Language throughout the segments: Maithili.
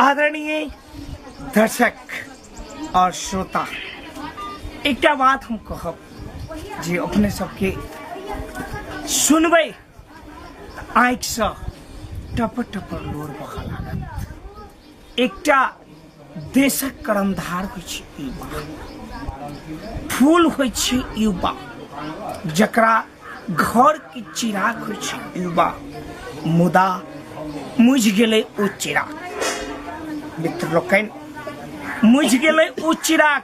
आदरणीय दर्शक और श्रोता एक बात हम कहब जे अपने सबके सुनबै आँखिसँ टप टप लोर बहऽ लागत एकटा देशक कर्मधार होइ छै युवा फूल होइ छै युवा जकरा घर के चिराग होइ छै युवा मुदा मुझ गेलै ओ चिराग मित्र लोकनि मुझ गेलै ओ चिराग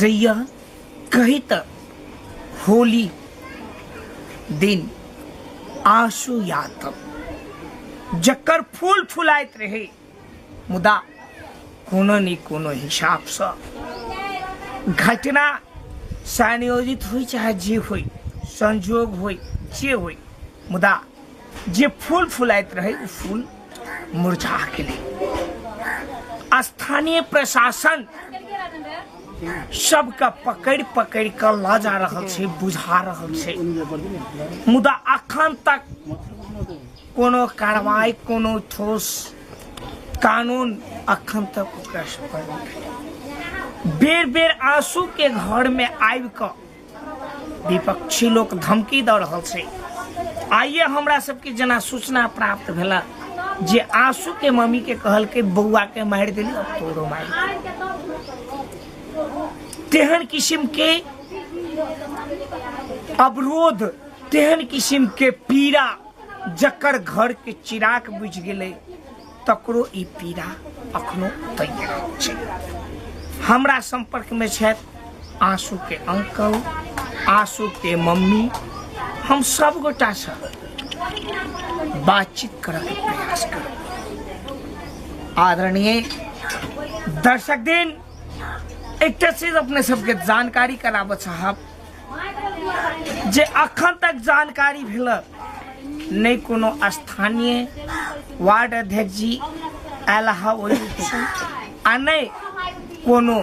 जहिया कही तक होली दिन आंसू यातम जकर फूल फुलाइत रहे मुदा कोनो ने कोनो हिसाबसँ घटना संयोजित होइ चाहे जे होइ संजोग होइ जे होइ मुदा जे फूल फुलाइत रहे ओ फूल मुरझा गेलै स्थानीय प्रशासन सबके पकड़ि पकड़ि कऽ लऽ जा रहल छै बुझा रहल छै मुदा अखन तक कोनो कार्रवाई कोनो ठोस कानून अखन तक ओकरा सब पर नहि भेलै। बेर बेर आंसू के घर में आबि कऽ विपक्षी लोक धमकी दऽ रहल छै आइए हमरा सबके जेना सूचना प्राप्त भेला जे आंसू के मम्मी के कहल के बौआ के मारि देली अब तोरो मारि तेहन किस्म के अवरोध तेहन किस्म के पीड़ा जकर घर के चिराग बुझ गेलै तकरो ई पीड़ा अखनो उतैने रहै छै हमरा सम्पर्कमे छथि आँसूके अंकल आँसूके मम्मी हम सब गोटासँ बातचीत करैके प्रयास करब आदरणीय दर्शक दिन एकटा चीज अपने सबके जानकारी कराबऽ चाहब जे अखन तक जानकारी भेल नहि कोनो स्थानीय वार्ड अध्यक्ष जी आयल हा ओहि आ नहि कोनो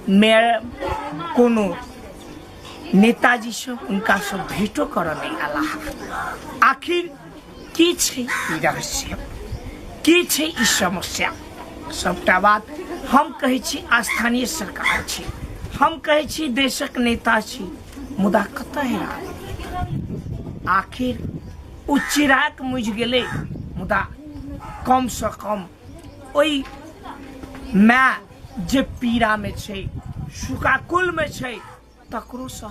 मेयर कोनो नेताजी सब हुनका सब भेटो करऽ नहि आला आखिर किछु ई रहस्य किछु ई समस्या सबटा बात हम कहै छी स्थानीय सरकार छी हम कहै छी देशक नेता छी मुदा कतऽ है आदमी? आखिर ओ चिराग मुझि गेलै मुदा कमसँ कम ओहि माय जे पीड़ामे छै सुकाकुलमे छै तकरोसँ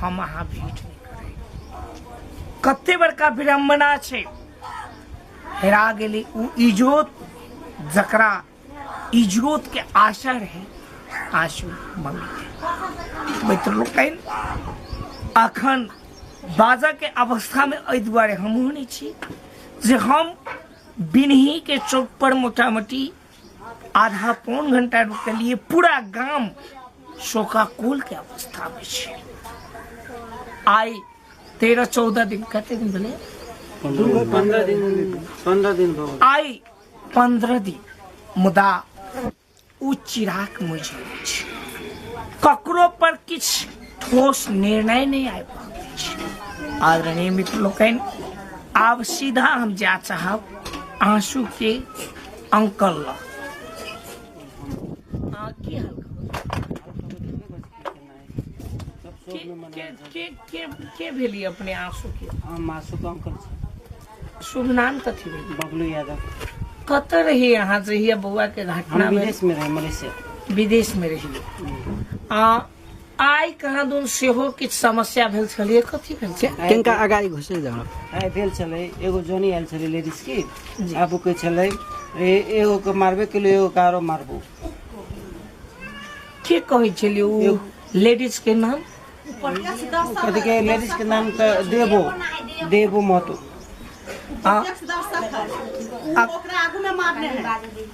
हम अहाँ भेट नहि करब कते बड़का विडम्बना छै हेरा गेलै ओ इजोत जकरा इजोतके आशा रहै आशु मम्मी मित्र लोकनि अखन बाजयके अवस्थामे एहि दुआरे हमहूँ नहि छी जे हम बिनहीके चौकपर मोटा मोटी आधा पौन घंटा रुकलिए पूरा गाम शोकाकुल के अवस्था में छे आइ तेरह चौदह दिन कते दिन भेलै पंद्रह दिन पंद्रह दिन भऽ गेल आइ पंद्रह दिन मुदा ओ चिराग मुझे अछि ककरो पर किछु ठोस निर्णय नहि आबि रहल अछि आदरणीय मित्र लोकनि आब सीधा हम जाय चाहब आंसू के अंकल ला हाँ, की हाल के भेली अपने आंसू के हम आंसू के अंकल छै शुभ नाम कथी भेल बबलू यादव कत रही यहाँ जहिया बौआ के घटना विदेश में रहे मलेशिया विदेश में रही आ आइ कहाँ दून सेहो किछु समस्या भेल छलै कथी भेल छै किनका अगाडि घुसै जाउ आइ भेल छलै एगो जोनी आयल छलै लेडीज की आब ओ कहै छलै ए एगो के मारबे केलू एगो के आरो मारबू के कहै छलै ओ लेडीज के नाम कथी के लेडीज के नाम तऽ देबो देबो महतो आ ओकरा आगू में मारने है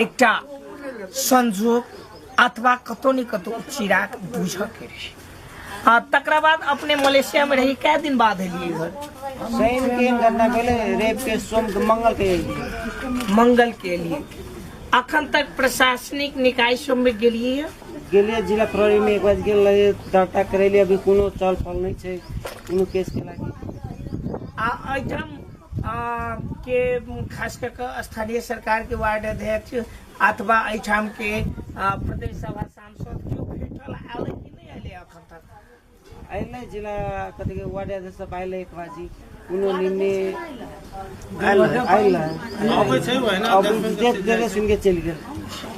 एकटा संजोग अथवा कतौ ने कतौ ओ चिराग बुझऽ के रही आ तकरा बाद अपने मलेशिया में रही कै दिन बाद एलियै घर शनि के एहन घटना भेलै रवि के सोम के मंगल के एलियै। मंगल के लिए अखन तक प्रशासनिक निकाय सब में गेलियै है। गेलियै जिला प्रहरी में एक बार गेल रहियै दर्ता करेलियै अभी कोनो चल फल नहि छै कोनो केस के लागी आ एहिठाम के खास कऽ कऽ स्थानीय सरकारके वार्ड अध्यक्ष अथवा एहिठामके प्रदेश सभा सांसद केओ भेटल आयल कि नहि अयलै एखन तक अयलै जेना कथी के वार्ड अध्यक्ष सब अयलै एक बार जी कोनो निम्ने अयलै अबै छै ओहिना अब देख देले सुन के चलि गेल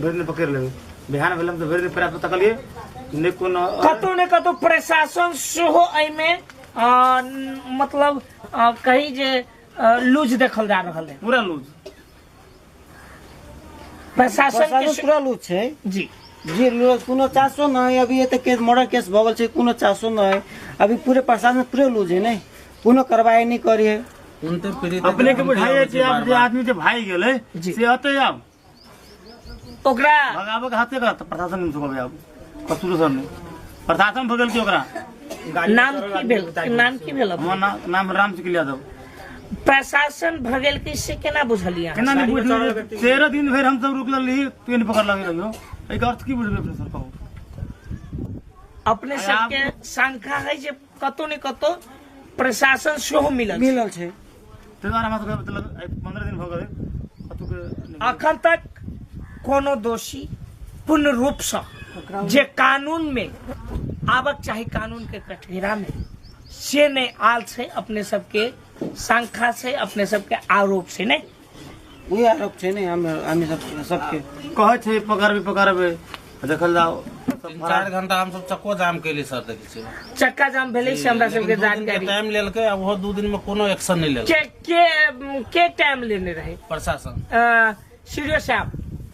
भेड़ने पकड़ लेंगे बिहान भेलम तो भेड़ने पैर पर तकलिए ने कोनो कतौ ने कतौ प्रशासन सेहो एहिमे अ, न- मतलब अ, कही जे अ, लूज देखल जा रहल है पूरा लूज प्रशासन के प्रशासन से- पूरा लूज छै जी जी लूज कोनो चासो न है अभी ये तक केस मर्डर केस भऽ गेल छै कोनो चासो न है अभी पूरे प्रशासन पूरे लूज है ने कोनो कार्रवाई नहीं करी है अपने के बुझाइए कि आप जे आदमी जे भाई गेले जी। से अते आब ओकरा भगाबऽ के हाथे करत प्रशासन में सुबह आब कसूर सर ने प्रशासन भगल के ओकरा नाम की भेल नाम की भेल हमर ना, नाम राम सिंह यादव प्रशासन भगेल की से केना बुझलियै केना नहि बुझलियै तेरह दिन भरि हम सब रुकल रही ट्रेन पकड़ लगे रहियो एकर अर्थ की बुझबै अपने सर कहू अपने सबके शंका है जे कतौ ने कतौ प्रशासन सेहो मिलल छै। मिलल छै ताहि दुआरे हमरा सबके मतलब आइ पंद्रह दिन भऽ गेलै कतौके नहि गेलियै। अखन तक कोनो दोषी पूर्ण रूप से ओकरा जे कानून में आबक चाही कानून के कठघरा में से नहीं आल से अपने सबके शंका से अपने सबके आरोप से नहीं उहे आरोप छै ने हम हामी सब सबके कहै छै पकड़बै पकड़बै देखल जाओ सब तीन फरार चार घंटा हम सब चक्को जाम कैली सर देखै छियै चक्का जाम भेलै से हमरा सबके लेकिन दू दिन के जानकारी टाइम लेलकै आ ओहो दू दिन में कोनो एक्शन नहीं लेलकै के के के टाइम लेने रहे प्रशासन अ, सीडीओ साहब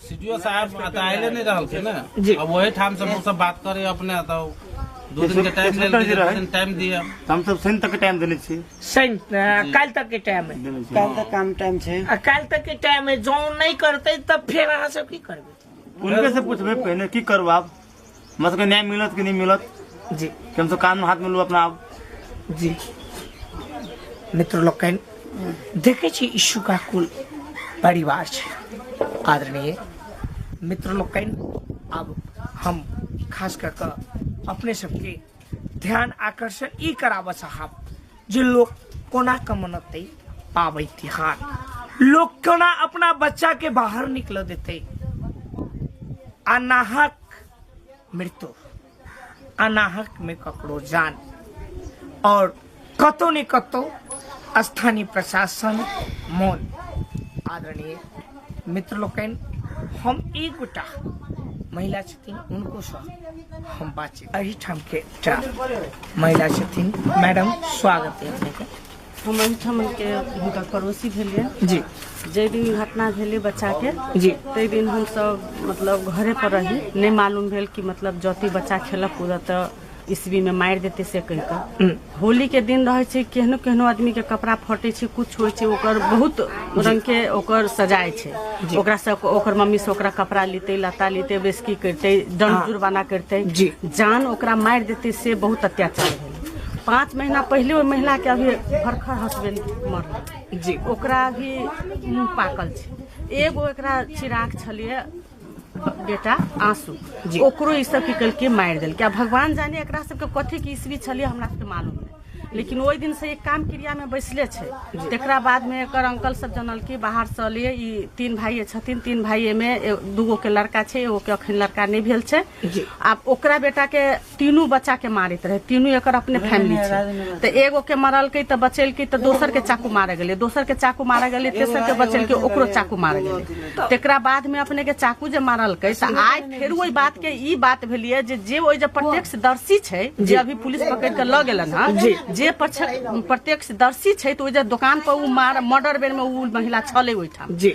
सीडीओ साहब तऽ आइले नहीं रहल छै ने जी। अब वही ठाम से हम सब बात करे अपने तो दू दिन के टाइम ले लेलकै, दू दिन टाइम दिए हम सब शनि तक टाइम देने छी शनि काल्हि तक के टाइम है काल्हि तक काम टाइम छै आ काल्हि तक के टाइम है जौं नहि करतै तब फेर अहाँ सब की करबै उनके से पूछबे पहले की करू आप हमरा सबके न्याय मिलत कि नहीं मिलत जी कि हम सब कानून हाथ में लू अपना आप जी मित्र लोकनि देखै छी यीशु का कुल परिवार छै आदरणीय मित्र लोकनि आब हम खास कऽ कऽ अपने सबके ध्यान आकर्षण ई कराबऽ साहब जे लोग कोना कमनते पाबै तिहार लोग कोना अपना बच्चा के बाहर निकल देते अनाहक मृत्यु अनाहक में ककरो जान और कतौ ने कतौ स्थानीय प्रशासन मौन आदरणीय मित्र लोकनि हम एक गोटा महिला छथिन उनको सह हम बातचीत अही ठाम के एकटा महिला छथिन मैडम स्वागत है अपनेके हम एहिठाम के हुनकर पड़ोसी भेलियै जी जाहि दिन ई घटना भेलै बच्चाके जी ताहि दिन हमसभ मतलब घरे पर रही नहि मालूम भेल कि मतलब जति बच्चा खेलक कूदत तऽ ईस्वी में मारि देते से कहि कऽ होली के दिन रहे छै केहनो केहनो आदमी के कपड़ा फटे छै कुछ होइ छै ओकर बहुत रंग के ओकर सजाय छै ओकरा से ओकर मम्मी से ओकरा कपड़ा लेते लता लेते बेसकी करते दम जुर्माना करते जी। जान ओकरा मारि देते से बहुत अत्याचार भेल पाँच महीना पहिले ओहि महिला के अभी भरखर हस्बैंड मरल जी ओकरा भी मुंह पाकल छै एगो एकरा चिराग छलिए बेटा आंसू जी। ओकरो ई सब की कलके मारि देलकै आ भगवान जाने एकरा सबके कथी के ईस्वी छलिए हमरा सबके मालूम नहि लेकिन ओहि दिन से एक काम क्रिया में बैसले छै तेकरा बाद में एकर अंकल सब जनल कि बाहर से लिए ई तीन भाई छथिन तीन भाई में ए- दूगो के लड़का छै एगो के अखन लड़का नहि भेल छै जी। आब ओकरा बेटा के तीनू बच्चा के मारैत रहे तीनू एकर अपने फैमिली छै तऽ एगो के मरलकै तऽ बचेलकै तऽ दोसर के चाकू मारे गेलै दोसर के चाकू मारे गेलै तेसर के बचेलकै ओकरो चाकू मारे गेलै तेकरा बाद में अपने के चाकू जे मारलकै तऽ आइ फेर ओहि बात के ई बात भेलिए जे जे ओहि जे प्रत्यक्षदर्शी छै जे अभी पुलिस पकड़ के लऽ गेलन हँ जे प्रत्यक्ष- प्रत्यक्षदर्शी छै तऽ ओहि जे दोकान पर ओ मार मर्डर बेर में ओ महिला छलै ओहिठाम जी।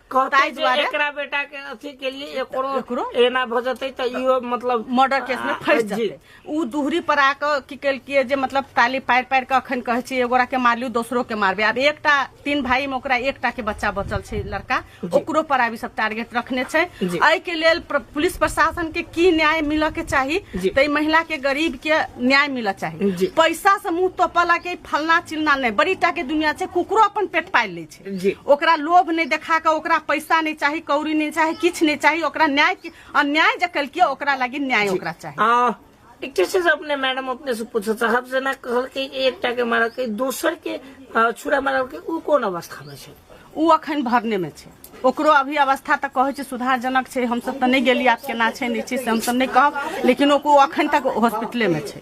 कहते ताहि जे दुआरे- एकरा बेटा के अथी के लिए एकरो एकरो? एना भ जतै त इहो मतलब मर्डर केस में फंस जी। जाते उ दूहरी पर आके की केलकिए जे मतलब ताली पारि पारि के अखन कहै छी एगोरा के मारलियो दोसरो के मारबे आब एकटा तीन भाई में ओकरा एकटा के बच्चा बचल छै लड़का ओकरो पर आब ई सब टारगेट रखने छै जी। एहि के लेल प्र- पुलिस प्रशासन के की न्याय मिलऽ के चाही जी। तै महिला के गरीब के न्याय मिलऽ चाही जी। पैसा से मुंह तोपला के फलना चिलना नहि बड़ी टा के दुनिया छै कुकरो अपन पेट पालि लै छै जी ओकरा लोभ नहि देखा कऽ ओकरा पैसा नहि चाही कौड़ी नहि चाही किछु नहि चाही ओकरा न्याय के अन्याय जे केलकै ओकरा लागी न्याय ओकरा चाही आ एकटा छै से अपने मैडम अपने से पूछऽ साहब जेना कहलकै कि एकटा के मारलकै दोसर के अ, छुरा मारलकै उ कोन अवस्था मे छै ओ अखन भरने में छै ओकरो अभी अवस्था तऽ कहै छै सुधारजनक छै हमसब तऽ नहि गेली आब केना छै नहि छै से हमसब नहि कहब लेकिन ओकरो अखन तक हॉस्पिटले में छै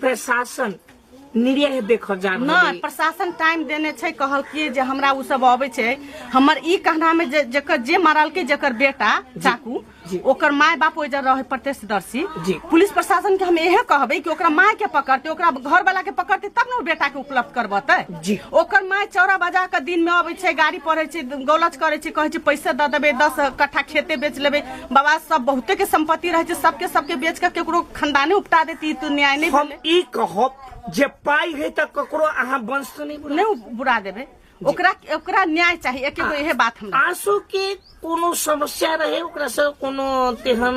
प्रशासन निरीह देखल जा रहल नहि अछि। प्रशासन टाइम देने छै कहलकै जे हमरा ओ सब अबै छै हमर ई कहना में जे जकर जे मारलकै जकर बेटा चाकू जी। ओकर माय बाप ओहि जगह रहे प्रत्यक्षदर्शी जी। पुलिस प्रशासन के हम इहे कहबै कि ओकरा माय के पकड़ते ओकरा घर वाला के पकड़ते तब ने ओ बेटा के उपलब्ध करबते जी। ओकर माय चौरा बजा के दिन में अबै छै गाड़ी पढ़ै छै गौलच करै छै कहै छै पैसे दऽ देबै दस कट्ठा खेते बेच लेबै बाबा सब बहुते के संपत्ति रहै छै सबके सबके बेच के केकरो खानदाने उपटा देती ई तो न्याय नहीं हम भेले ई कहब जे पाई है त ककरो अहाँ वंश से नहीं बुला नहीं उ- बुरा देबे ओकरा ओकरा न्याय चाहिए एके गो इहे बात हमरा आंसू के कोनो समस्या रहे ओकरा से कोनो तेहन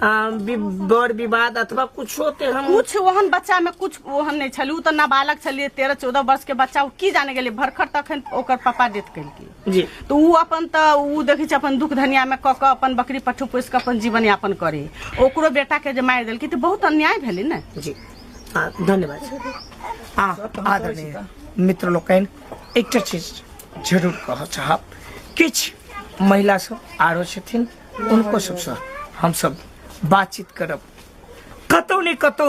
आ, वि- बर विवाद अथवा कुछो तेहन कुछ ओहन बच्चा में कुछ ओहन नहीं छलू तो नाबालक छलिए तेरह चौदह वर्ष के बच्चा उ की जाने गेलिए भरखर तखन ओकर पापा डेथ कल की जी तऽ ओ अपन तऽ ओ देखै छै अपन दुख धनियामे कऽ कऽ अपन बकरी पट्ठू पोसि कऽ अपन जीवन यापन करी ओकरो बेटाके जे मारि देलकै तऽ बहुत अन्याय भेलै ने जी आ, धन्यवाद आ आदरणीय मित्र लोकनि एकटा चीज जरूर कहऽ चाहब किछु महिला सब आरो छथिन उनको सबसँ हमसब बातचीत करब कतौ ने कतौ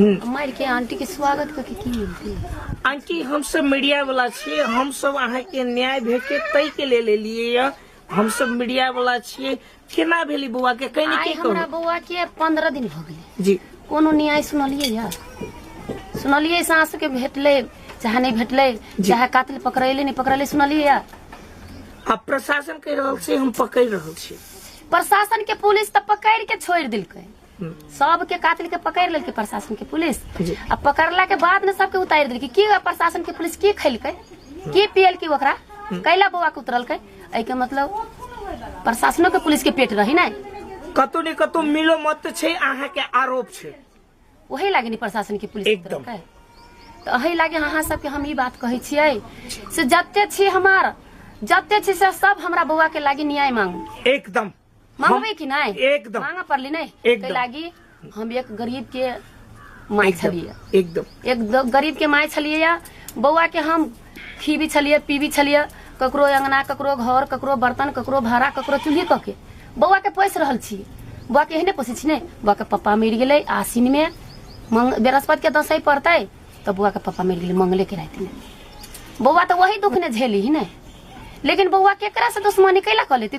मर के आंटी के स्वागत करके की मिलती आंटी हम सब मीडिया वाला छिए हम सब अहाँ के न्याय भेटे तय के ले लेलिए या हम सब मीडिया वाला छिए केना भेली बौआ के कहीं आई के हमरा कहो बौआ के पंद्रह दिन भऽ गेलै जी कोनो न्याय सुनलियै या सुनलियै सास के भेटलै चाहे नहीं भेटलै चाहे कातिल पकड़ैले नहीं पकड़ैले सुनलियै या अब प्रशासन कह रहल छै हम पकड़ रहल छी प्रशासन के पुलिस तऽ पकड़ के छोड़ि देलकै सबके कातिल के पकड़ लेलकै प्रशासन के पुलिस जी। आ पकड़ला के बाद में सबके उतारि देलकै की प्रशासन के पुलिस की खैलकै की पियलकै ओकरा कैला बौआ के उतरलकै एहि के मतलब प्रशासनो के पुलिस के पेट रही नहि कतौ ने कतौ मिलो मत छै अहाँ के आरोप छै वही लागे नि प्रशासन के पुलिस एकदम। उतरलकै तऽ अही लागे अहाँ सबके हम ई बात कहै छियै से जते छी हमार जते छी से सब हमरा बौआ के लागे न्याय मांगू एकदम मांगबे कि नहीं एकदम। मांगा पड़ली नहीं एकदम। तो लागी हम एक गरीब के माई छलिए एकदम एक द- गरीब के माय छलिए या बौआ के हम खीबी छलिए पीबी छलिए ककरो अंगना ककरो घर ककरो बर्तन ककरो भाड़ा ककरो चूल्ही कऽ के बौआ के पोसि रहल छी बौआ के एहने पोसै छी ने बौआ के पप्पा मरि गेलै आसिन में मंग बृहस्पति के दसैं पड़तै तऽ बौआ के पप्पा मरि गेलै मंगले के राति में बौआ तऽ वही दुख ने झेली ही ने लेकिन बौआ केकरा से दुश्मनी कैला कऽ लेती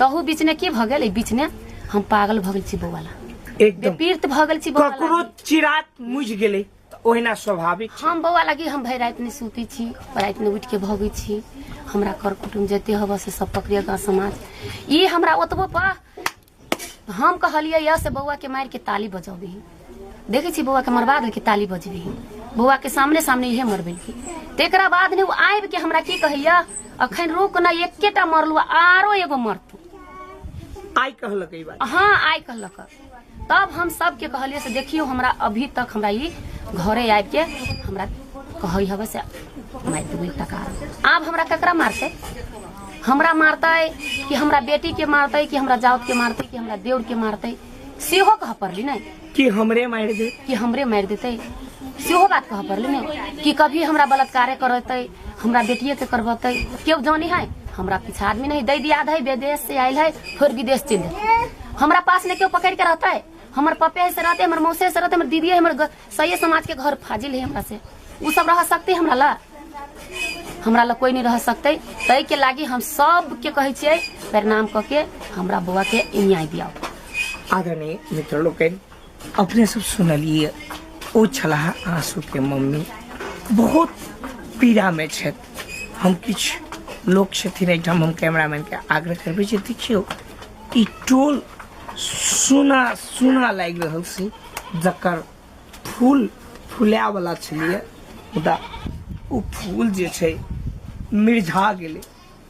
तहू बीच ने की भऽ गेल एहि बीच ने हम पागल भऽ गेल छी बौआ ला एकदम बेपीर्त भऽ गेल छी बौआ ला। ककरो चिरात मुझ गेलै तऽ ओहिना स्वाभाविक छै हम बौआ लागी हम भरि राति नहि सुतै छी राति नहि उठि के भगै छी हमरा कर कुटुम जते हबऽ से सब पकड़िया गाँव समाज ई हमरा ओतबो पर हम कहलियै यऽ से बौआ के मारि के ताली बजबही देखै छी बौआके मरबा देलकै ताली बजबी बौआके सामने सामने इहे मरबेलकै तकरा बाद ने ओ आबि के हमरा की कहैया अखन रोक ना एकेटा मरलू आरो एगो मरतू आइ कहलक ई बात हाँ आइ कहलक तब हम सबके कहलिए से देखियो हमरा अभी तक हमरा ई घरे आबि के हमरा कहै हवे से मारि देबै टका आब हमरा ककरा मारतै हमरा मारतै कि हमरा बेटी के मारतै कि हमरा जाउत के मारतै कि हमरा देउर के मारतै सेहो कह पड़ली ने कि हमरे मार दे कि हमरे मार देते सेहो बात कह पड़ली ने कि कभी हमरा बलात्कारे करते हमरा बेटिए के करबते केव जानी है हमरा पीछा आदमी नहीं दै दियाद है विदेश से आयल है फिर विदेश चल जाए हमरा पास ने केव पकड़ के रहते हमर पपे से रहते हमर मौसे से रहते हमर दीदी हमर ग- सही समाज के घर फाजिल है हमरा से उ सब रह सकते हमरा ला हमरा ला कोई नहीं रह सकते तय के लागी हम सब के कहे छिए प्रणाम क के हमरा बउआ के न्याय दियाओ आदरणीय मित्र लोकन अपने सब सुनलिए ओ छलाह आंसू के मम्मी बहुत पीड़ा में छत हम किछ लोग छथिन एहिठाम हम कैमरामैन के आग्रह करबे जे देखियो ई टोल सुना सुना लागि रहल छी जकर फूल फुलाएवला छलियै मुदा ओ फूल जे छै मिर्झा गेलै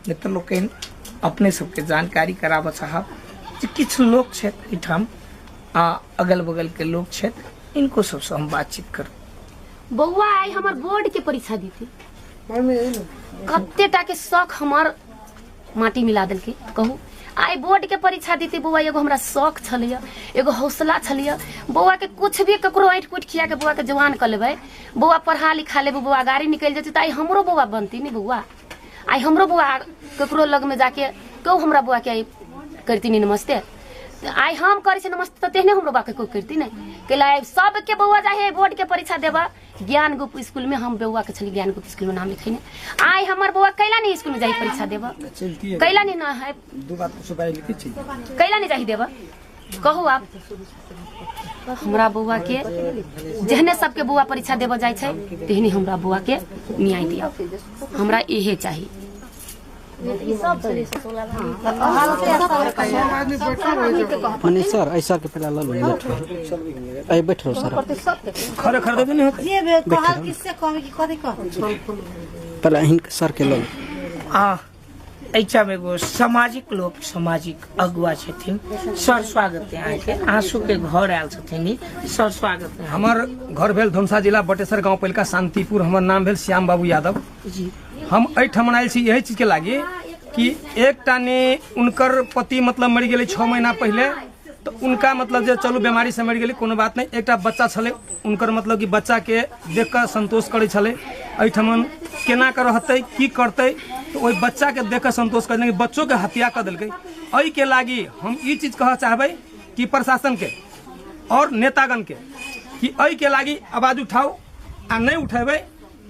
नहि तऽ लोकनि अपने सबके जानकारी कराबऽ चाहब जे किछु लोक छथि एहिठाम आ अगल बगलके लोक छथि इनको सबसँ हम बातचीत करब बौआ आइ हमर बोर्ड के परीक्षा देती मम्मी कते टा के शौक हमर माटी मिला देलकै तऽ कहू आइ बोर्डके परीक्षा देती बौआ एगो हमरा शौक छलैए एगो हौसला छलैए बौआके किछु भी ककरो ऐँठ कुटि खियाके बौआके जवान कऽ लेबै बौआ पढ़ा लिखा लेबै बौआ गाड़ी निकलि जेतै तऽ आइ हमरो बौआ बनती ने बौआ आइ हमरो बौआ ककरो लगमे जाके कहू हमरा बौआके आइ करती ने नमस्ते तऽ आइ हम करै छी नमस्ते तऽ तेहने हमरो बौआके कोइ करती ने कैला आइ सबके बौआ जाइ है बोर्डके परीक्षा देबऽ ज्ञान गुप्त स्कूल में हम बौआ के छली ज्ञान गुप्त स्कूल में नाम लिखेने आय हमर बौआ कैला नहीं स्कूल में जाई परीक्षा देबा चलती है कैला नहीं ना है दो बात कुछ बाहर लिखी थी कैला नहीं जाही देबा कहू आप हमरा बौआ के जहने सबके बौआ परीक्षा देबऽ जाइ छै तेहने हमरा बौआ के न्याय दिया हमरा इहे चाही मने सर ऐसा के पहला लो लो बैठो ऐ बैठो सर खड़े खड़े तो नहीं होते जे बे कहल किससे कहबे कि कथी कहबे पहला हिन सर के लो लो। आ ऐचा में एगो सामाजिक लोग सामाजिक अगुआ छथिन सर स्वागत है अहाँके आंसू के घर आयल छथिन ई। सर स्वागत है हमार घर भेल धुमसा जिला बटेसर गांव पहिलका शांतिपुर हमर नाम भेल श्याम बाबू यादव जी हम एहिठाम आयल छी यही चीजके लागि कि एकटा ने उनकर पति मतलब मरि गेलै छओ महीना पहिले तऽ उनका मतलब जे चलू बीमारीसँ मरि गेलै कोनो बात नहि एकटा बच्चा छलै उनकर मतलब कि बच्चाके देख कऽ संतोष करै छलै एहिठाम केना कऽ रहतै की करतै तऽ ओहि बच्चाके देख कऽ संतोष करै लेकिन बच्चोके हत्या कऽ देलकै एहिके लागि हम ई चीज कहऽ चाहबै कि प्रशासनके आओर नेतागणके कि एहिके लागि आवाज उठाउ आ नहि उठेबै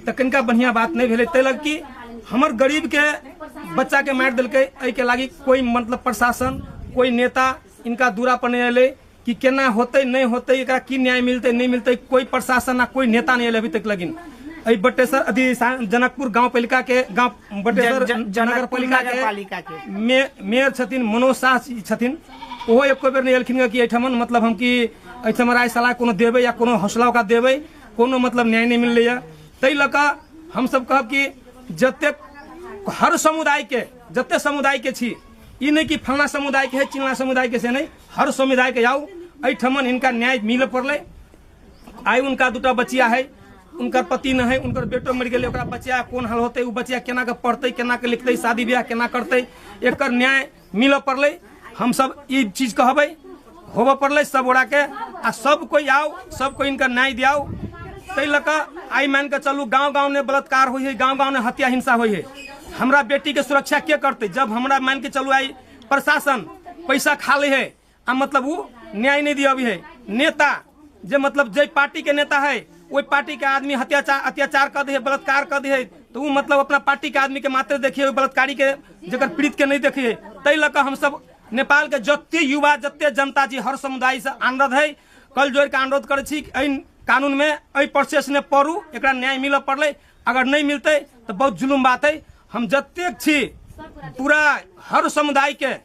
तऽ कनिका बढ़िया बात नहि भेलै ताहि लग कि हमर गरीब के बच्चा के मारि देलकै एहि के लागी कोई मतलब प्रशासन कोई नेता इनका दूरा पर नहि एलै कि केना होतै नहि होतै एकरा की न्याय मिलतै नहि मिलतै कोई प्रशासन आ कोई नेता नहि एलै अभी तक लगिन एहि बटेसर अथी सा- जनकपुर गांव पालिका के गांव जन- बटेसर जन- नगर जनकपुर पालिका नगर पालिका के के। मे- मेयर छथिन मनोज साह जी छथिन ओहो एको बेर नहि एलखिन कि एहिठाम मतलब हम कि एहिठाम राय सलाह कोनो देबै या कोनो हौसला ओकरा देबै कोनो मतलब न्याय नहि मिललैए ताहि लऽ कऽ हमसभ कहब कि जतेक हर समुदायके जतेक समुदायके छी ई नहि कि फलना समुदायके है चिल्ला समुदायके से नहि हर समुदायके जाउ एहिठमन हिनका न्याय मिलऽ पड़लै आइ हुनका दूटा बचिया है हुनकर पति नहि है हुनकर बेटो मरि गेलै ओकरा बचिया कोन हाल होतै ओ बचिया केना कऽ पढ़तै केना कऽ लिखतै शादी ब्याह केना करतै एकर न्याय मिलऽ पड़लै हमसभ ई चीज कहबै होबऽ पड़लै सब गोटाके आ सब कोइ आउ सब कोइ इनका न्याय दियाउ ताहि लऽ कऽ आइ मानि कऽ चलू गाँव गाँव ने बलात्कार होइ है गाँव गाँव ने हत्या हिंसा होइ है हमरा बेटीके सुरक्षा के करतै जब हमरा मानि कऽ चलू आइ प्रशासन पैसा खा लै है आ मतलब उ न्याय नहीं दिया अभी है नेता जे मतलब जय पार्टी के नेता है वही पार्टी के आदमी अत्याचार अत्याचार कर दिए बलात्कार कर दिए तो वो मतलब अपना पार्टी के आदमी के मात्र देखिए बलात्कारी के जगह पीड़ित के नहीं देखिए तै लऽ कऽ हम सब नेपाल के जते युवा जते जनता जी हर समुदाय से अनुरोध है कल जोड़ के अनुरोध करे छी कि एहि कानून में एहि प्रोसेस ने पढ़ू एकरा न्याय मिलऽ पड़ले अगर नहीं मिलते तो बहुत जुलुम बात है हम जतेक छी पूरा हर समुदाय के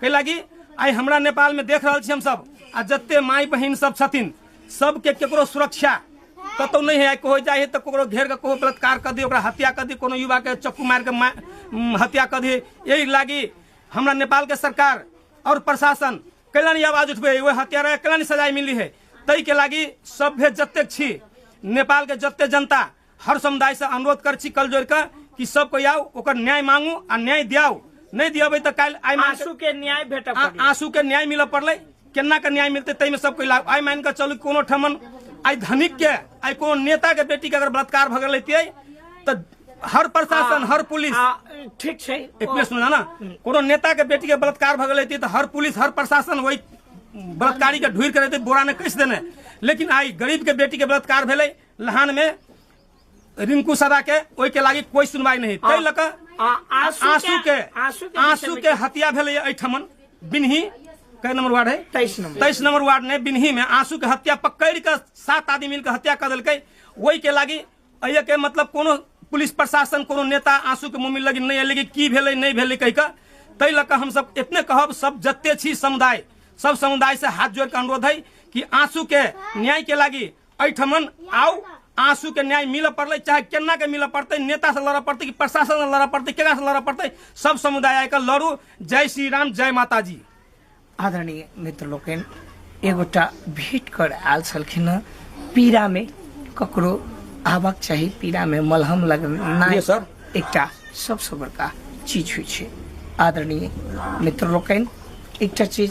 कै लागी आइ हमरा नेपालमे देख रहल छी हमसभ आ जते माय बहिन सब छथिन सबके केकरो सुरक्षा कतौ नहि है कहो जाइ है तऽ ककरो घेर कऽ कहो बलात्कार कऽ दी ओकरा हत्या कऽ दी कोनो युवाके चक्कू मारि कऽ मा- उम, हत्या कऽ दी एहि लागी हमरा नेपालके सरकार और प्रशासन कैला नहि आवाज उठबै है ओहि हत्यारा कैला नहि सजाय मिली है ताहिके लागी सभ्य जतेक छी नेपालके जते जनता हर समुदाय से अनुरोध कर छी कल जोड़ के कि सब कोई आओ ओकर न्याय मांगू आ न्याय दियाओ नहीं दियाबे तो कल आई मान आंसू के न्याय भेट आंसू के न्याय मिल पड़ल केना के न्याय मिलते तई में सब कोई लाभ आई मान के चलू कोनो ठमन आई धनिक के आई कोनो नेता के बेटी के अगर बलात्कार भगल लेते तो हर प्रशासन हर पुलिस ठीक है एक मिनट सुना ना हम्म। कोनो नेता के बेटी के बलात्कार भगल लेते तो हर पुलिस हर प्रशासन वही बलात्कारी के ढूर करे बोरा ने कस देने लेकिन आई गरीब के बेटी के बलात्कार भेले लहान में रिंकू सदा के ओहि के लागी कोई सुनवाई नहीं ताहि लऽ कऽ आ- आंसू आंसू के आंसू के आंसू के हत्या भेलै एहिठमन बिन्ही कै नंबर वार्ड है तेईस नंबर तेईस नंबर वार्ड ने बिन्ही में आंसू के हत्या पकड़ के सात आदमी मिलकर हत्या कर देलकै ओहि के लागी अय के मतलब कोनो पुलिस प्रशासन कोनो नेता आंसू के मुंह में लगी नहीं एलै कि की भेलै नहीं भेलै कहि कऽ ताहि लऽ कऽ हमसभ एतने कहब सब जते छी समुदाय सब समुदाय से हाथ जोड़ के अनुरोध है कि आंसू के न्याय के लागी एहिठमन आउ आंसू के न्याय मिलऽ पड़लै चाहे केना के मिलऽ पड़तै नेता से लड़ऽ पड़तै कि प्रशासन से लड़ऽ पड़तै केकरा से लड़ऽ पड़तै सब समुदाय आके लड़ू जय श्री राम जय माता जी आदरणीय मित्र लोकनि एगोटा भेट कर आयल छलखिन हँ पीड़ामे ककरो आबक चाही पीड़ामे मलहम लगनाइ जी सर। एकटा सबसँ बड़का चीज होइ छै आदरणीय मित्र लोकनि एकटा चीज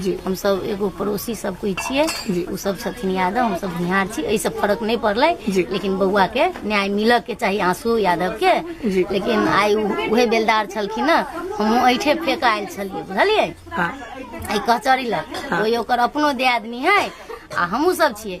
जी हमसभ एगो पड़ोसी सब कोई छियै जी। ओ सब छथिन यादव हमसभ भुनिहार छी एहि सब फर्क नहि पड़लै जी। लेकिन बौआ के न्याय मिलऽ के चाही आंसू यादव के जी। लेकिन आइ उ- उहे बेलदार छलखिन ने हमहूँ ऐठे फेंक आयल छलियै बुझलियै हाँ एहि कचहरी लग कोई ओकर अपनो दियादनी है आ हमहूँ सब छियै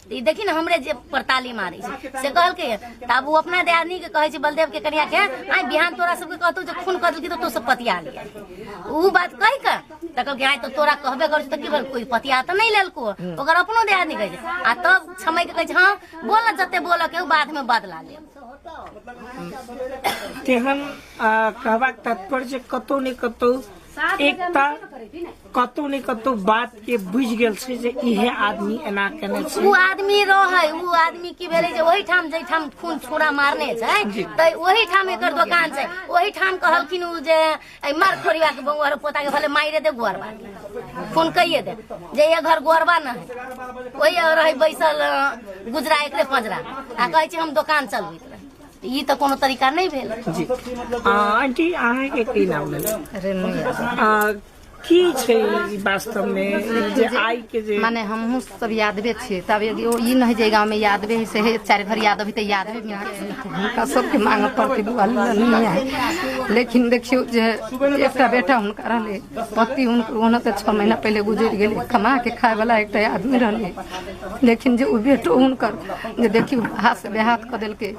तऽ ई देखी ने हमरे जे पर ताली मारै छै से कहलकै यऽ। तऽ आब ओ अपना दियादनी के कहै छै बलदेव के कनिया के आइ बिहान तोरा सबके कहतौ जे खून कऽ देलकी तऽ तू सब पतिया लिया ओ बात कहि कऽ तऽ कहलकै आइ तऽ तोरा कहबे करै छौ तऽ की भेल कोई पतिया तऽ नहि लेलको ओकर अपनो दियादनी कहै छै आ तब छमय के कहै छै हँ बोल ने जते बोलऽ के उ बाद में बदला ले तेहन आ, कहबाक तात्पर्य जे कतौ ने कतौ एकता कतौ ने कतौ बात के बुझ गेल छै जे इहे आदमी एना केने छै ओ आदमी रहे ओ आदमी की भेले जे ओहि ठाम जे ठाम खून छोड़ा मारने छै त ओहि ठाम एकर दुकान छै ओहि ठाम कहलखिन उ जे ए मार खोरिया के बउआ रे पोता के भले मारे दे गोरबा खून कहिए दे जे ये घर गोरबा न है ओहि रहे बैसल गुजरा एकरे पंजरा आ कहै छै हम दुकान चलबैत ई तऽ कोनो तरीका नहि भेल जी आंटी अहाँके की नाम भेल की छै ई वास्तव में ई जे आइ के जे माने हमहूँ सब यादवे छियै तब एगो ओ ई नहि जे गाँवमे यादवे है से हे चारि भर याद अभी तऽ यादवे में है। हुनका सबके मांग पर के बुआ नहीं है लेकिन देखियो जे एकटा बेटा हुनका रहले पति हुनकर ओना तऽ छः महीना पहिले गुजरि गेलै कमा के खाय वाला एकटा आदमी रहले लेकिन जे ओ बेटो हुनकर जे देखियो हाथ से बेहाथ कऽ देलकै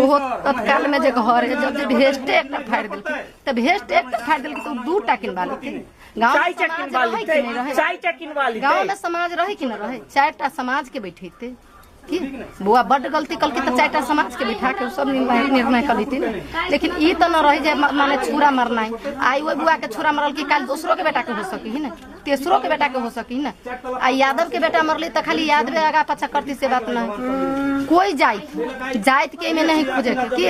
ओहो तत्काल में जे घर है जब जे भेस्टे एकटा फाड़ि देलकै तऽ भेस्ट एक तऽ फाड़ि देलकै तऽ ओ दू टा किनबा लेतै गाँव चाय टा किनबा लेतै चाय टा किनबा लेतै गाँव में समाज रहे कि न रहे चारि टा समाज के बैठेते की बौआ बड्ड गलती कलके तऽ चारि टा समाज के बैठा के सब निर्णय निर्णय कर देती ने लेकिन ई तऽ न रहे जे म- माने छुरा मरनाइ आइ ओहि बुआ के छुरा मरल कि काल्हि दोसरो के बेटा के हो सकी ही ने तेसरो के बेटा के हो सकी ने आ यादव के बेटा मरली तऽ खाली यादवे आगा पाछा करती से बात नहि कोई जाइत जाइत के एहिमे नहीं खोजे के की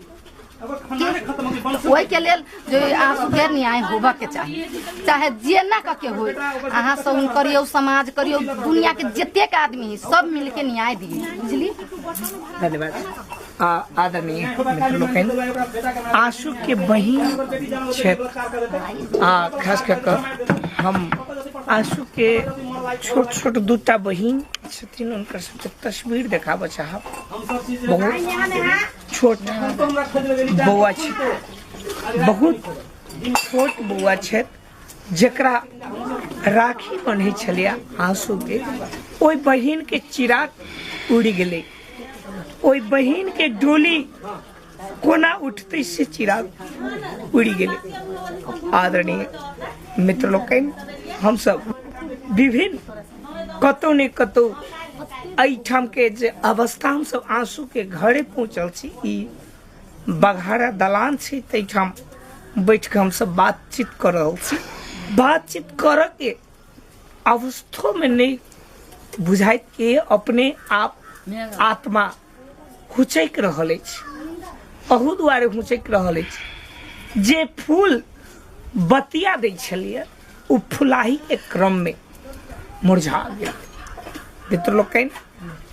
ओहिके लेल जे अहाँ सुधेर न्याय होबऽके चाही चाहे जेना कऽ के होय अहाँ सहुन करियौ समाज करियौ दुनियाके जतेक आदमी हइ सब मिलके न्याय दियै बुझली धन्यवाद आ, आदरणीय मित्र लोकनि आशु के बहिन छथि आ खास कऽ कऽ हम आशु के छोट छोट दूटा बहिन छथिन हुनकर सबके तस्वीर देखाबऽ चाहब बहुत छोट बौआ छै बहुत छोट बौआ छथि जकरा राखी बन्है छलैए आँसूके ओहि बहिनके चिराग उड़ि गेलै ओहि बहिनके डोली कोना उठतै से चिराग उड़ि गेलै आदरणीय मित्र लोकनि हमसभ विभिन्न कतहु ने कतहु एहिठाम के जे अवस्था हमसब आंसू के घरे पहुंचल छी ई बघारा दलान छै ताहिठाम बैठ के हमसब बातचीत कर रहल छी बातचीत कर के अवस्थो में नहीं बुझाइत के अपने आप आत्मा हुचैक रहल अछि अहू दुआरे हुचैक रहल अछि जे फूल बतिया दै छलियै ओ फुलाही के क्रम में मुरझा गेल मित्र लोकनि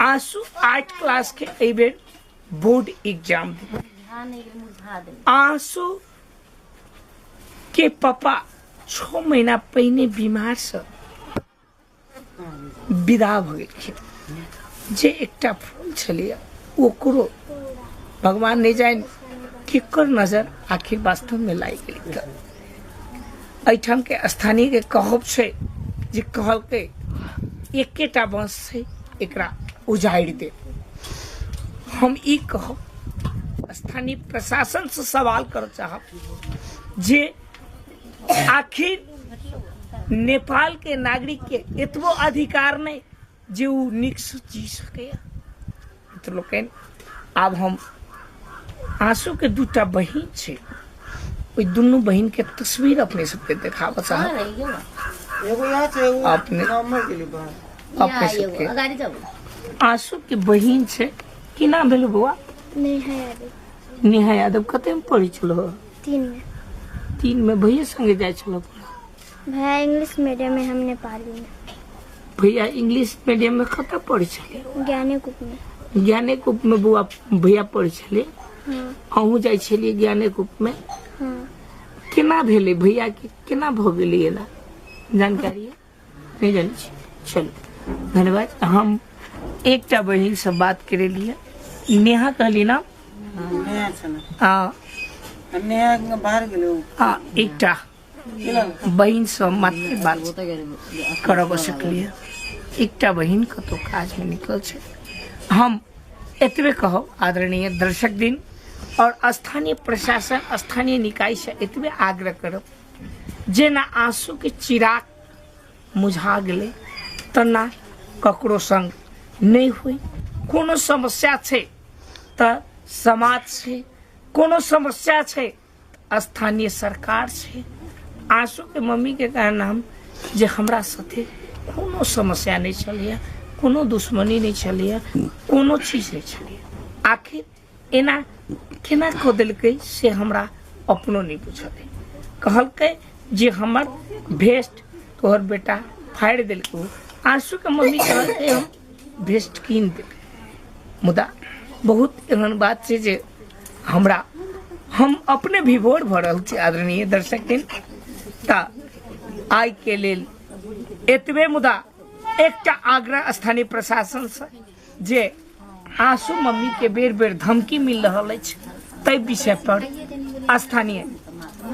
आंसू आठ क्लास के एहि बेर बोर्ड एग्जाम देबै बुझा नहि गेल मुझा देल आंसू के पापा छः महीना पहिने बीमार से विदा भऽ गेलखिन जे एकटा फूल छलैए ओकरो भगवान नहि जानि केकर नजर आखिर वास्तवमे लागि गेलै तऽ एहिठामके स्थानीयके कहब छै जे कहलकै एकेटा बाँस छै एकरा उजाड़ि दे हम ई कहब स्थानीय प्रशासनसँ सवाल करऽ चाहब जे आखिर नेपाल के नागरिक के एतबो अधिकार नहीं जे उ निक से जी सके तो लोकन आब हम आंसू के दूटा बहिन छै ओहि दुनू बहिन के तस्वीर अपने सबके देखाबऽ चाहब एगो यहाँ से एगो अपने नॉर्मल के लिए बाहर अपने सबके अगाडि जाऊ आंसू के बहिन छै की नाम भेल बौआ नेहा यादव नेहा यादव कते में पढ़ै छलो तीन में तीन में भैया संगे जाए छल भैया इंग्लिश मीडियम में हम नेपाली में भैया इंग्लिश मीडियम में कत पढ़े छले ज्ञाने कुप में ज्ञाने कुप में बुआ भैया पढ़े छले हाँ अहूँ जाए छलिए ज्ञाने कुप में हाँ केना भेले भैया के केना भ गेलिए ना जानकारी है? भेज रहल छी चलू धन्यवाद हम एकटा बहिनसँ बात करेलियै नेहा कहली ना नया छल हँ नया बाहर गेलै हँ एकटा बहिनसँ मात्र बात करब सकलियै एकटा बहिन कतहु काजमे निकल छै हम एतबे कहब आदरणीय दर्शक दिन आओर स्थानीय प्रशासन स्थानीय निकायसँ एतबे आग्रह करब जेना आंसू के चिराग मुझा गेलै तेना ककरो संग नहि होइ कोनो समस्या छै तऽ समाज छै कोनो समस्या छै तऽ स्थानीय सरकार छै आंसू के मम्मी के कहना हम जे हमरा साथे कोनो समस्या नहि छलैया कोनो दुश्मनी नहि छलैया कोनो चीज नहि छलैया आखिर एना केना कऽ देलकै से हमरा अपनो नहि बुझल अइ कहलकै जे हमर भेस्ट तोहर बेटा फाड़ि देलकै ओ। आशूके मम्मी कहलकै हम भेस्ट कीन देबै मुदा बहुत एहन बात छै जे हमरा हम अपने विभोर भऽ रहल छी आदरणीय दर्शक दिन तऽ आइके लेल एतबे मुदा एकटा आग्रह स्थानीय प्रशासनसँ जे आशु मम्मी के बेर बेर धमकी मिल रहा तय विषय पर स्थानीय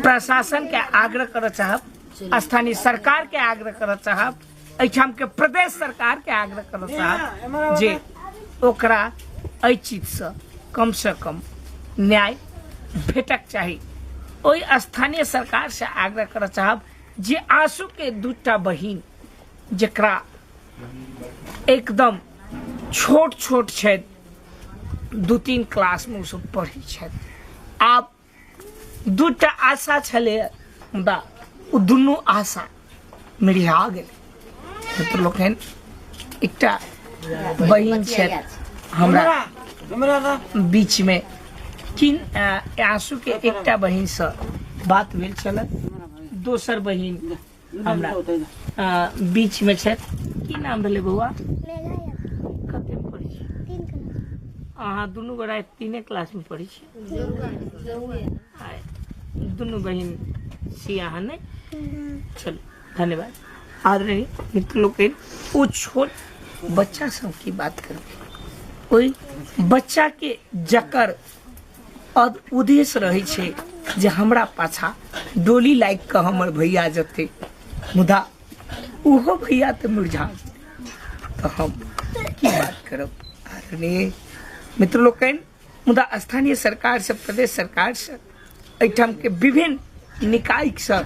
प्रशासन के आग्रह कर चाहब स्थानीय सरकार के आग्रह कर चाहब एठाम के प्रदेश सरकार के आग्रह कर चाहब जे ओकरा एहि चीज से कम से कम न्याय भेटक चाही ओहि स्थानीय सरकार से आग्रह कर चाहब जे आशु के दूटा बहिन जकरा एकदम छोट छोट छथि दू तीन क्लासमे ओसभ पढ़ै छथि आब दू टा आशा छलै मुदा ओ दुनू आशा मिरिहा गेलै मित्र लोकनि एकटा बहिन छथि हमरा बीचमे किन अ, आंसू के एकटा बहिन से बात भेल छल दोसर बहिन हमरा अ, बीच में छै की नाम भेलै बौआ कते में पढ़ै छी अहाँ दुनू गोरा एक तीने क्लास में पढ़ै छी आ दुनू बहिन छी अहाँ ने चलू धन्यवाद आदरणीय मित्र लोकनि ओ छोट बच्चा सब की बात करबै ओहि बच्चा के जकर अब उद्देश्य रहै छै जे हमरा पाछा डोली लागि कऽ हमर भैया जेतै मुदा ओहो भैया तऽ मुरझा जेतै। तऽ हम की बात करब आदरणीय मित्र लोकनि मुदा स्थानीय सरकारसँ प्रदेश सरकारसँ एहिठामके विभिन्न निकायसँ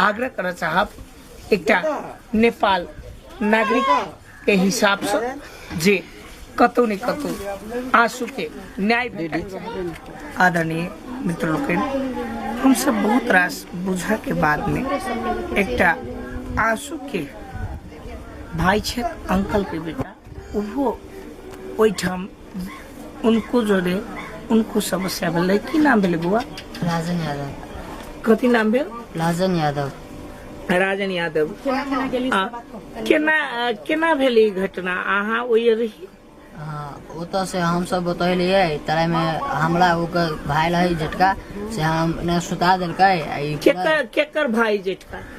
आग्रह करऽ चाहब एकटा नेपाल नागरिक के हिसाब से जे कतौ ने कतौ आंसू के न्याय भेटै आदरणीय मित्र लोकनि हम सब बहुत रास बुझा के बाद में एकटा आंसू के भाई छे अंकल के बेटा ओहो ओहिठाम उनको जोड़े उनको समस्या भेलै की नाम भेलै बौआ राजन यादव कथी नाम भेल राजन यादव राजन यादव आ, केना केना भेल ई घटना अहाँ ओहि रही हाँ, ओतऽ से हम सब बतैलियै तले में हमरा ओकर भाई रहे झटका से हम ने सुता देलकै आ ई पूरा- केकर केकर भाई जेठका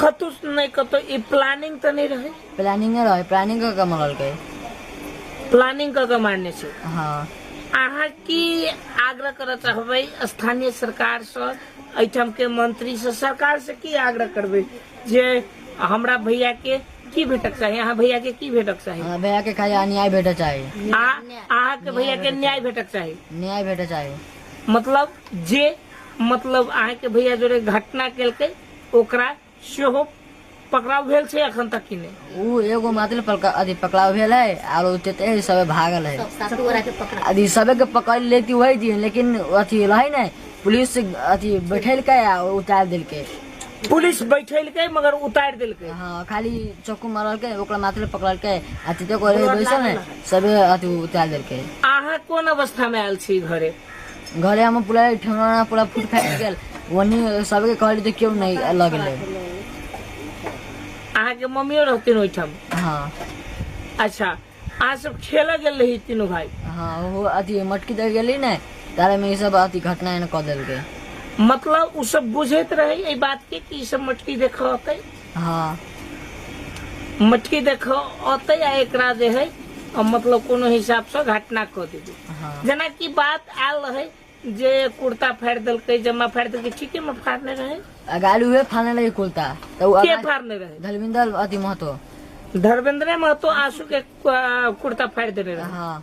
कतहु से नहि कतहु ई प्लानिंग तऽ नहि रहै प्लानिंगे रहै प्लानिंग कऽ के मंगलकै प्लानिंग कऽ के मारने छै हँ अहाँ की आग्रह करऽ चाहबै स्थानीय सरकार से एहिठाम के मंत्री से सरकार से की आग्रह करबै जे हमरा भैया के की भेटक चाही अहाँ भैया के की भेटक चाही हमरा भैया के खाली अन्याय भेटऽ चाही अहाँ अहाँ के भैया के न्याय भेटक चाही न्याय भेटऽ चाही मतलब जे मतलब अहाँ के भैया जोरे घटना केलकै ओकरा सेहो पकड़ाव भेल छै अखन तक कि नहि उ एगो मात्र पलका अथी पकड़ाव भेल है आरो तेते सबे भागल है सासू गोरा के पकड़ा अथी सबे के पकड़ लेती वही दिन लेकिन अथी रहे ने पुलिस अथी बैठेलकै आ उतार देलकै पुलिस बैठेलकै मगर उतारि देलकै हाँ खाली चक्कू मारलकै ओकरा मात्र पकड़लकै आ तेते को बैसल है सबे अथी उतार देलकै अहाँ कोन अवस्था में आयल छी घरे घरे हम पूरा ठेहुना पूरा फूट फाटि गेल ओनी सबके कहली तऽ केओ नहि लगलै अहाँके मम्मियो रहथिन ओहिठाम हँ अच्छा अहाँ सब खेलऽ गेल रही तीनू भाई हँ ओहो अथी मटकी दे गेली ने तारेमे ई सब अथी घटना एने कऽ देलकै मतलब उ सब बुझैत रहे एहि बात के कि ई सब मटकी देखलकै हँ मटकी देखो औते आ एकरा जे है अ, मतलब कोनो हिसाब से घटना कऽ देबै हँ जेना कि बात आयल रहै जे कुर्ता फाड़ि देलकै जमा फाड़ि देलकै ठीके मे फाड़ने रहै अगाड़ी उहे फाने लगे कुलता तो उ के अगाड़ी- फाड़ने रहै धलविंदर अति महतो धर्मेंद्र महतो आंसू के अ, कुर्ता फाड़ि देने रहै हाँ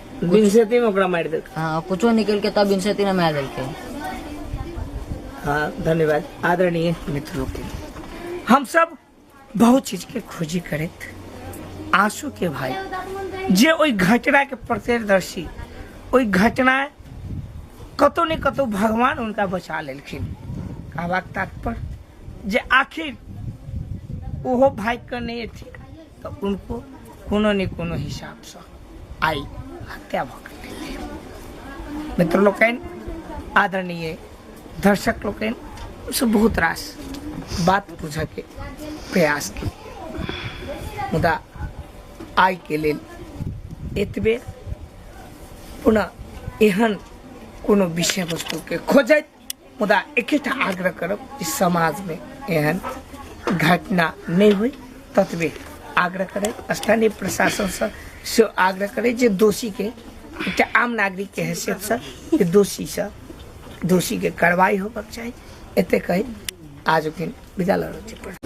बिनसेती में ओकरा मारि देलकै हाँ कुछो निकलके तब बिनसेती ने मार देलके हाँ धन्यवाद आदरणीय मित्र लोग के हम सब बहुत चीज के खोजी करैत आंसू के भाई जे ओहि घटना के प्रत्यक्षदर्शी ओहि घटना कतौ ने कतौ भगवान उनका बचा लेलखिन कहबाक तात्पर्य जे आखिर ओहो भागि कऽ नहि एथिन तऽ उनको कोनो ने कोनो हिसाबसँ आइ हत्या भऽ गेलै मित्र लोकनि आदरणीय दर्शक लोकनि हमसभ बहुत रास बात बुझयके प्रयास केलियै मुदा आइके लेल एतबे पुनः एहन कोनो विषय वस्तुके खोजैत मुदा एकेटा आग्रह करब जे समाजमे एहन घटना नहि होइ ततबे आग्रह करैत स्थानीय प्रशासनसँ से आग्रह करैत जे दोषीके एकटा आम नागरिकके हैसियतसँ जे दोषीसँ दोषीके कार्रवाई होबक चाही एते कही आज दिन विदा लऽ रहल छी